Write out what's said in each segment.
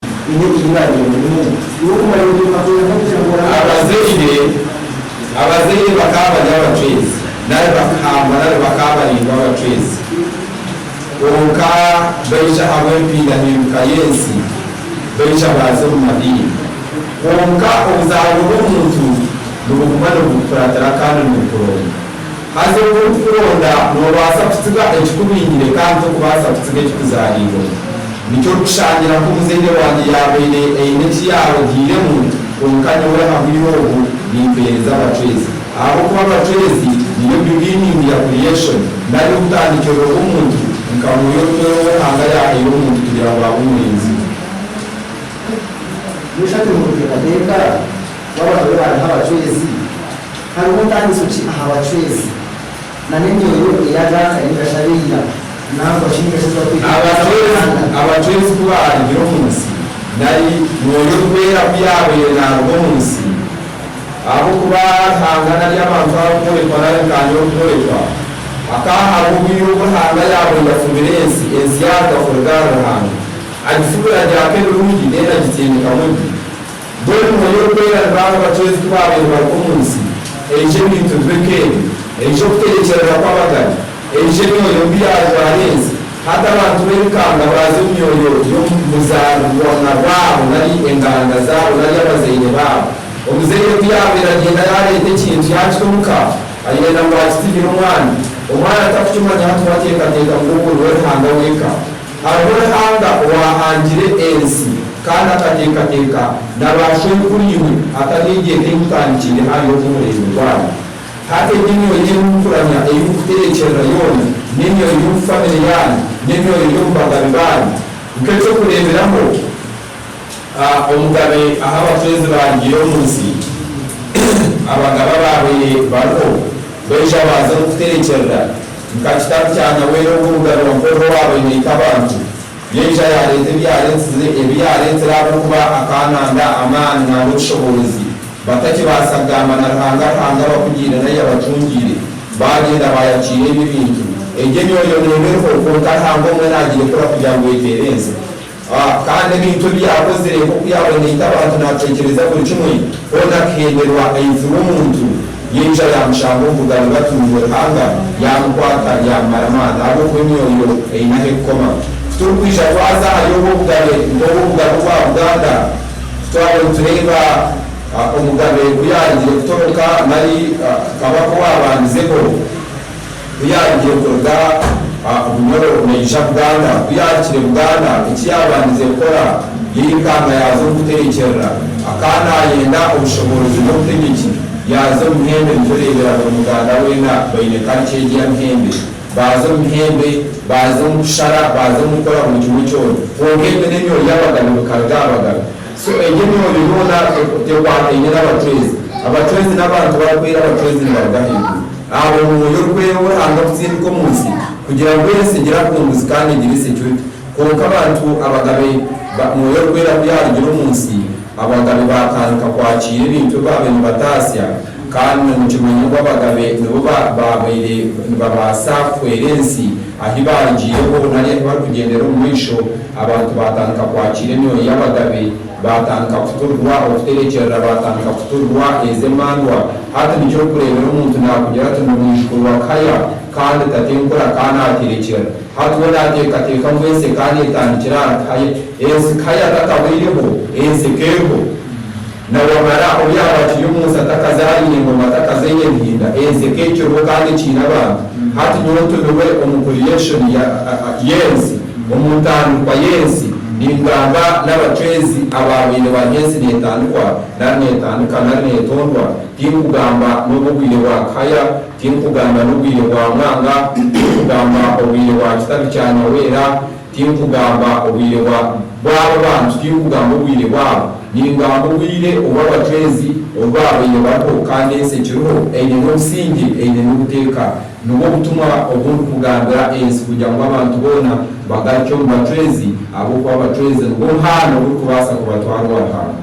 baine ekirirarira munonga. Iwe kumanya ngu Ruhanga naija kuhwera abantu Abazaire Abazaire bakaba bari abacwezi nari bakahamba nari bakaba baringwa abacwezi. Kwonka baija ahabw'empindahinduka y'ensi, baija baaza omu madiini. Kwonka obuzaarwa bw'omuntu nibuguma nibukukuratira kandi nibukuronda. Haza oku orikuronda noobaasa kutsiga ekikubingire kandi tokubaasa kutsiga ekikuzaariirwe. Nikyo orikushangira ku omuzaire wangye yaabaire aine eki yaarogiiremu, kwonka nyowe aha bwire obu nimpeereza abacwezi. Ahabw'okuba abacwezi nibyo beginning ya creation, nari obutandikiriro bw'omuntu, nka mwoyo orikweera ou Ruhanga yaahaire omuntu kugira ngu abe omurinzi we. Noshusha oti mubuteekateeka bw'abantu abu baaraga aha bacwezi? Hariho ntandiso ki aha bacwezi na n'emyoyo eyagaaka ninga shi ab'eira nangwa shi ninga shi ezi barikweta abacwezi? Abacwezi ku baarugire omu nsi nari mwoyo orikwera ku yaabaire naaruga omu nsi, ahabw'okuba Ruhanga nari abantu abarikworekwa nari nkaanye orikworekwa, hakaba hariho obwire obu Ruhanga yaabaire yafubire ensi, ensi yaaruga kuruga ahari Ruhanga, agifubira agyaka ebirungi, mbwenu agitindikamu ebibi. Mbwenu Omwoyo Orikwera ni baanu abacwezi ku baabaire bari omu nsi? Eija ebintu bibe nk'ebi. Eija okutegyekyeerera kw'abagane. Eija emyoyo mbi yaajwara ensi. Hati abantu b'erikanga baaza omu myoyo y'omu buzaarwa na bwabo nari enganda zaabo nari abazaire baabo. Omuzaire ku yaabaire agyenda yaareeta ekintu yaakita omu ka, ayenda ngu akitihire omwana. Omwana atarikukimanya hati we ateekateeka ngu ogwo niwe Ruhanga w'eka. Hariho Ruhanga owaahangire ensi kandi akateekateeka na baashwenkuriimwe hatariho eigyenda ei mutandikiire hariho nk'omuringo gwayo. Hati egi emyoyo ei murikuramya, ei murikuterekyerera yoona, n'emyoyo y'omu famire yaanyu, n'emyoyo y'omu bagabe baanyu. Nk'eky'okureeberaho, A Omugabe aha abatwezi baarugiire omu nsi, abagaba abaabaire bariho baija baaza omu kuterekyerera, nka kitabu kya Naweri ogwo Omugabe wa Mpororo owaabaire naita abantu, yaija yaareeta ebi yaareetsize, ebi yaareetsire ahabw'okuba akaananda amaani nari obushoboorozi, batakibaasa kugamba na Ruhanga, Ruhanga abakugiire nari abatungiire, baagyenda baayakiira ebyo ebintu. Egyo emyoyo neeba eriho, kwonka Ruhanga omwe naagirekura kugira ngu eteere ensi. A Kandi ebintu ebi yaakozire, nk'oku yaaba naita abantu naateekyereza buri kimwe, hoona akihemberwa, aijura omuntu, yaija yaamushanga omu bugari batunirwe Ruhanga, yaamukwata, yaamumara amaani, ahabw'okuba emyoyo eine ahu erikukoma. Ku turikwija twaza ahari obwo bugabe, nk'obwo obugabe obwa Buganda, ku twaba nitureeba a omugabe ku yaarugire kutoroka nari a kabaka owaabandizeho, ku yaarugire kuruga aha Bunyoro naija Buganda. Ku yaahikire Buganda, eki yaabandize kukora yairukanga yaaza omu kuterekyerera. Akaba naayenda obushoboorozi n'obutegyeki, yaaza omu mihembe nitureebera buri muganda weena baine kariki egi ya mihembe. Baaza omu mihembe, baaza omu kushara, baaza omu kukora buri kimwe kyona. Kwonka emi n'emyoori y'abagabe bikaruga aha bagabe. So egi emyojo yoona tekwataine n'abacwezi. Abacwezi n'abantu barikwera, abacwezi nibaruga ahaiguru. Abo omwoyo orikwera ou Ruhanga kutsindika omu nsi kugira ngu ensi egire akunguzi kandi egire security. Kwonka abantu abagabe ba mwoyo orikwera ku yaarugire omu nsi, abagabe baatandika kwakiira ebintu ebi baabaire nibataatsya kandi na nikimanya ngu abagabe nibo ba baabaire nibabaasa kuhwera ensi ahi baarugiireho nari ahi barikugyendera omu maisho. Abantu baatandika kwakiira emyoyo y'abagabe, baatandika kuturirwa okuterekyerera, baatandika kuturirwa ezo emandwa. Hati nikyo orikureebera omuntu naakugira ati ndi mwijukuru wa Kaya kandi tate nkura ka naaterekyera. Hati we naateekateeka ngu ensi eka neetandikira ahari Kaya. Ensi Kaya tatabaireho, ensi eka eriho. Nawamara, oryaaba akiri omu nsi atakazaariire ngoma atakazaire enhinda, ensi ekaikireho kandi ekiine abantu. Hati nyowe ntumirwe omu creation ya, y'ensi, omu ntandikwa y'ensi, ningamba n'abacwezi abaabaire baahi ensi neetandikwa, nari neetandika, nari neetondwa. Tinkugamba n'obw'obwire bwa Kihaya, tinkugamba n'obwire bwa Mwanga, tinkugamba obwire bwa Kitabi kya Nyawera, Tinkugamba obwire bwa bw'abo bantu, tinkugamba obwire bwabo, ningamba obwire obu abacwezi obu baabaire bariho kandi ensi ekiriho eine n'obusingye, eine n'obuteeka. Nibwo butumwa obu ndikugambira ensi kugira ngu abantu boona bagaruke omu bacwezi, ahabw'okuba abacwezi nibwo muhanda ogurikubaasa kubatwara owa Ruhanga.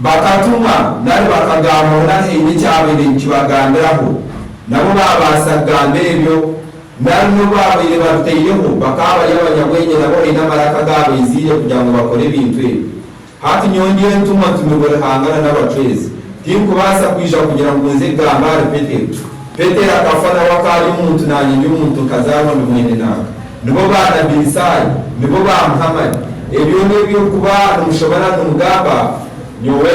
Bakatuma nari bakagamba hoona haine ekyabaire nikibagambiraho, nabo baabaasa kugamba ebyo, nari n'obu baabaire babitaireho, bakaba bari abanyabwengye nabo haine amaraka agaabaizire kugira ngu bakore ebintu ebyo. Hati nyowe ndi entumwa ntumirwe Ruhanga na n'abacwezi, tinkubaasa kwija kugira ngu nze kugamba ahari Petero. Petero akafa nawe akaari omuntu naanye ndi omuntu nkazaarwa ndi mwene nanka. Nibo ba Nabbi Isaaya, nibo ba Muhammad, ebyo n'ebi orikuba nomushobera nomugamba, Nyowe